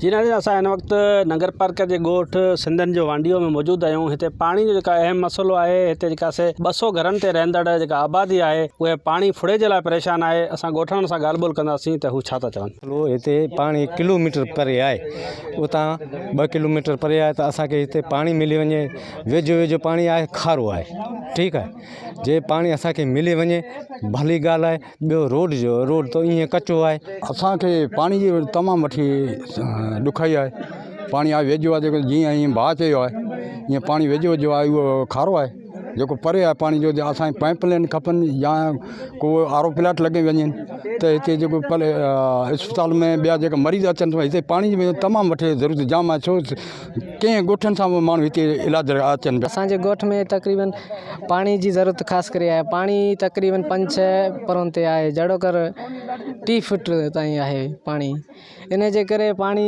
جي ناظرين اسان هن وقت ننگر پارڪر جي ڳوٺ سنڌن جو وانڊيو ۾ موجود آهيون هتي پاڻي جو جيڪا اهم مسئلو آهي هتي جيڪا سي ٻه سؤ گهرن تي رهندڙ جيڪا آبادي آهي اهي پاڻي ڦڙي جي لاء پريشان آهي اسان ڳوٺاڻن سان ڳالهه ٻولهه ڪنداسين ته هو ڇا ٿا چون مسئلو هتي پاڻي ڪلوميٽر پري آهي اتان ٻه ڪلوميٽر پري آهي ته اسان کي هتي پاڻي ملي وڃي ويجهو ويجهو پاڻي آهي کارو آهي ٺيڪ آهي جي پاڻي اسان کي ملي وڃي ڀلي ڳالهه آهي ٻيو روڊ جو روڊ تو ايئن ڪچو آهي. اسان کي پاڻي جي تمام وٺي ڏکائي آهي پاڻي آهي ويجهو آهي جيڪو جيئن ائين ڀاء چيو آهي ايئن پاڻي ويجهو ويجهو آهي اهو کارو آهي جيڪو پري آهي پاڻي جو اسانکي پائپ لائن کپن يا ڪو آرو پلاٽ لڳي وڃن ته هتي جيڪو اسپتال ۾ ٻيا جيڪا مريض اچن ٿا هتي پاڻي جي تمام وٺي ضرورت جام آهي ڇو ڪئين ڳوٺن سان به ماڻهو هتي علاج لاء اچن پيا. اسان جي ڳوٺ ۾ تقريبن پاڻي جي ضرورت خاص ڪري آهي پاڻي تقريبن پنج ڇهه پرون تي آهي جهڙو ڪر ٽي فٽ تائين آهي پاڻي ان جي ڪري پاڻي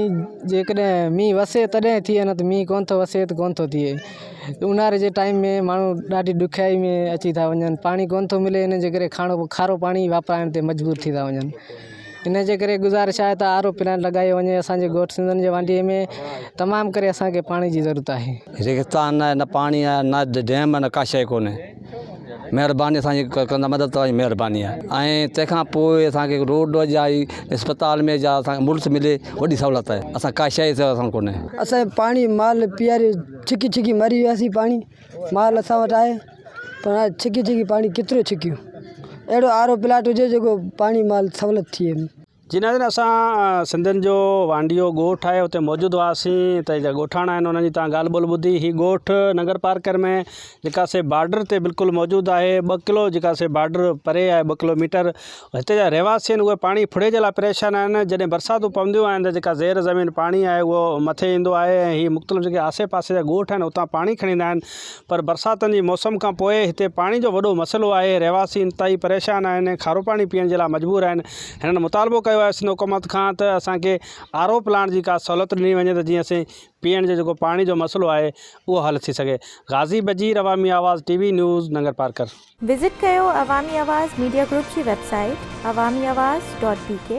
جيڪڏهن مينهن وسي تڏهن ٿئي نه ته مينهن ڪونه ٿو وسي ته ڪونه ٿو ٿئي اونهاري جي ٽائيم ۾ ماڻهو ڏاڍي ڏکيائي ۾ اچي ٿا وڃن پاڻي ڪونه ٿو ملي ان جي ڪري کارو پاڻي واپرائڻ تي مجبور ٿي ٿا وڃن ان جي ڪري گذارش آهي ته آر او پلانٽ لڳايو وڃي اسان جي ڳوٺ سنڌن جي وانڍي ۾ تمام ڪري اسان کي پاڻي جي ضرورت آهي. ريگستان ناهي نه پاڻي آهي نه ڊيم آهي نه ڪا شيء ڪونهي مهرباني اسان جي ڪندا مدد توهان جي مهرباني آهي ۽ تنهن کان پوء اسان کي روڊ جا ۽ اسپتال ۾ جا اسان کي ملس ملي وڏي سهولت آهي اسان کي ڪا شيء جي اسان کي ڪونهي. اسان کي پاڻي مال پياري ڇڪي ڇڪي مري وياسين پاڻي. مال اسان وٽ آهي پر هاڻي ڇڪي ڇڪي پاڻي ڪيترو ڇڪيون اهڙو آر او پلانٽ هجي جيڪو پاڻي مال سهولت ٿئي جي ناظرين اسان سنڌين جو وانڊيو ڳوٺ آهي اتي موجود هئاسين اتي جا ڳوٺاڻا آهن انهن جي تان ڳالهه ٻولهه ٻڌي هي ڳوٺ ننگر پارڪر ۾ جيڪا سي بارڊر تي بلڪل موجود آهي ٻه ڪلو جيڪا سي بارڊر پري آهي ٻه ڪلو ميٽر هتي جا رهواسي آهن اهي پاڻي ڦڙي جي لاء پريشان آهن جڏهن برساتون پونديون آهن ته جيڪا زير زمين پاڻي آهي اهو مٿي ايندو آهي ۽ هي مختلف جيڪي آسي پاسي جا ڳوٺ آهن اتان پاڻي کڻي ايندا آهن پر برساتن جي موسم کان پوء هتي پاڻي جو وڏو مسئلو آهي رهواسي انتهائي پريشان آهن ۽ کارو پاڻي پيئڻ جي لاء مجبور آهن هنن مطالبو ڪيو آهي سنڌ حڪومت کان ته اسان کي آر او پلانٽ جي ڪا سهولت ڏني وڃي ته جيئن اسين پيئڻ جو جيڪو پاڻي جو مسئلو آهي اهو حل ٿي سگهي غازي Bajeer Awami Awaz T V news Nagarparkar visit ڪيو عوامي آواز ميڊيا گروپ جي website Awami Awaz dot بي ڪي.